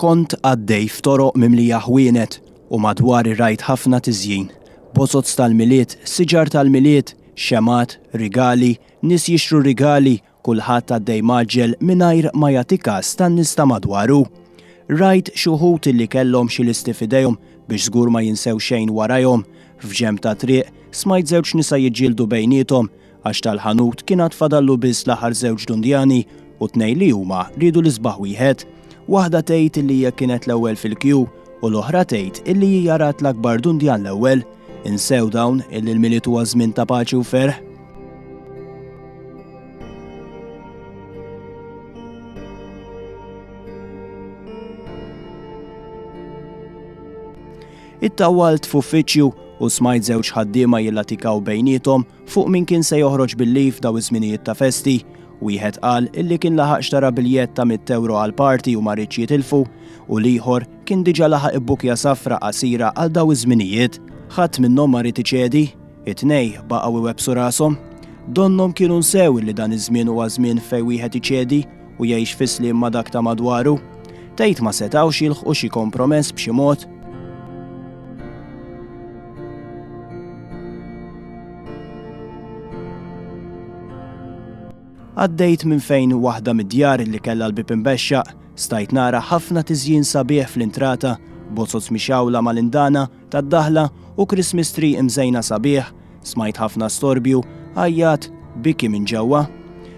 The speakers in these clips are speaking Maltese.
Kont għaddej f'toroq mimlija ħwienet u madwari rajt ħafna tiżjin. Bozoz tal-Milied, siġar tal-Milied, xemgħat, rigali, nies jixtru rigali, kulħadd għaddej mgħaġġel mingħajr ma jagħti kas tan-nies ta' madwaru. Rajt xi wħud illi kellhom xi listi f'idejhom biex żgur ma jinsew xejn warajhom. F'ġenb tat-triq, smajt żewġ nisa jiġġieldu bejniethom, għax tal-ħanut kien għad fadallu biss l-aħħar żewġ dundjani u tnej li huma riedu l-isbaħ wieħed. Waħda tgħid illi hija kienet l-ewwel fil-kju u l-oħra tgħid illi hija rat l-akbar dundjan l-ewwel. Insew dawn illi l-miliet huwa żmien ta' paċi u ferħ. It-tawalt f'uffiċċju u smajt żewġ ħaddiema jillatikaw bejnietom Fuq min kien se joħroġ bil-leave f'daw iż-żminijiet ta' festi, wieħed qal illi kien laħaq xtara biljett ta' mitt ewro għall-party u ma riedx jitilfu u l-ieħor kien diġa laħaq ibbukja safra qasira għal daw iż-żminijiet. Ħadd minnhom ma ried iċedi, it-tnej baqgħu iwebbsu rashom. Donnhom kienu nsew illi dan iż-żmien huwa żmien fejn wieħed iċedi u jgħix fi sliem ma' dak ta' madwaru. Tgħid ma setgħux jilħqu xi kompromess b'xi mod? Għaddejt minn fejn waħda mid-djar li kellha l-bib imbexxaq, stajt nara ħafna tiżjin sabiħ fl-intrata, bozoz mixawla mal-indana tad-daħla u Christmas tree imżejna sabiħ, smajt ħafna storbju, għajjat, biki minn ġewwa.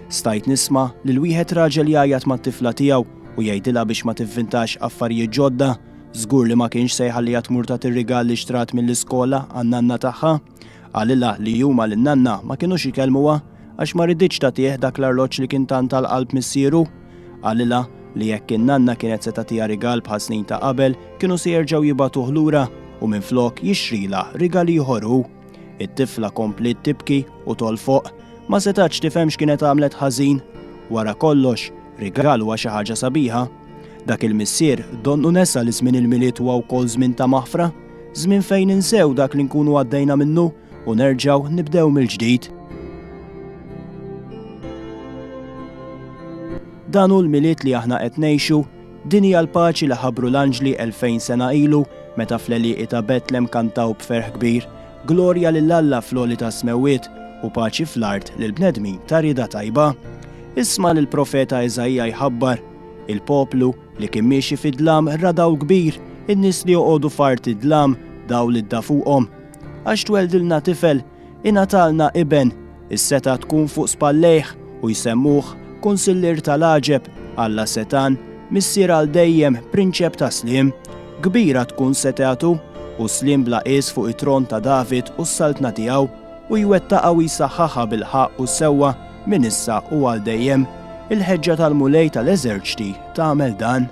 Stajt nisma' lil wieħed raġel jgħajjat mat-tifla tiegħu u jgħidilha biex ma tivvintax affarijiet ġodda, żgur li ma kienx se jħalliha tmur tagħti r-rigal li xtrat mill-iskola għan-nanna tagħha. Qalilha li huma lin-nanna ma kinux ikellmuha għax ma riditx tagħtih dak l-arloġġ li kien tant għal qalb missieru. Qalilha li jekk in-nanna kienet se tagħtiha rigal bħal snin ta' qabel kienu se jerġgħu jibagħtuh lura u minflok jixtrilha rigal ieħor hu. It-tifla kompliet tibki u tolfoq. Ma setgħetx tifhem x'kienet għamlet ħażin. Wara kollox, rigal huwa xi ħaġa sabiħa. Dak il-missier donnu nesa li żmien il-Milied huwa wkoll żmien ta' maħfra. Żmien fejn ninsew dak li nkunu għaddejna minnu u nerġgħu nibdew mill-ġdid. Dan hu l-Milied li aħna qed ngħixu, din hija l-paċi li ħabbru l-anġli elfejn sena ilu meta fl-għelieqi ta' Betlem kantaw b'ferħ kbir, Glorja lil Alla fl-għoli tas-smewwiet u paċi fl-art lill-bnedmin ta' rieda tajba. Isma' lill-profeta Iżaija jħabbar, Il-poplu, Li kien miexi fid-dlam ra dawl kbir, in-nies li joqogħdu f'art id-dlam, dawl idda fuqhom. Għax tweldilna tifel, ingħatalna iben, is-setgħa tkun fuq spallejh, u jsemmuh, Kunsillier ta' l-għaġeb, Alla setgħan, Missier għal dejjem, Prinċep ta' sliem. Kbira tkun setgħatu, u sliem bla qies fuq it-tron ta' David u s-saltna tiegħu. u jwettaqha u jsaħħaħha bil-ħaqq u s-sewwa minn issa u għal dejjem, il-ħeġġa tal-Mulej tal-eżerċti tagħmel dan.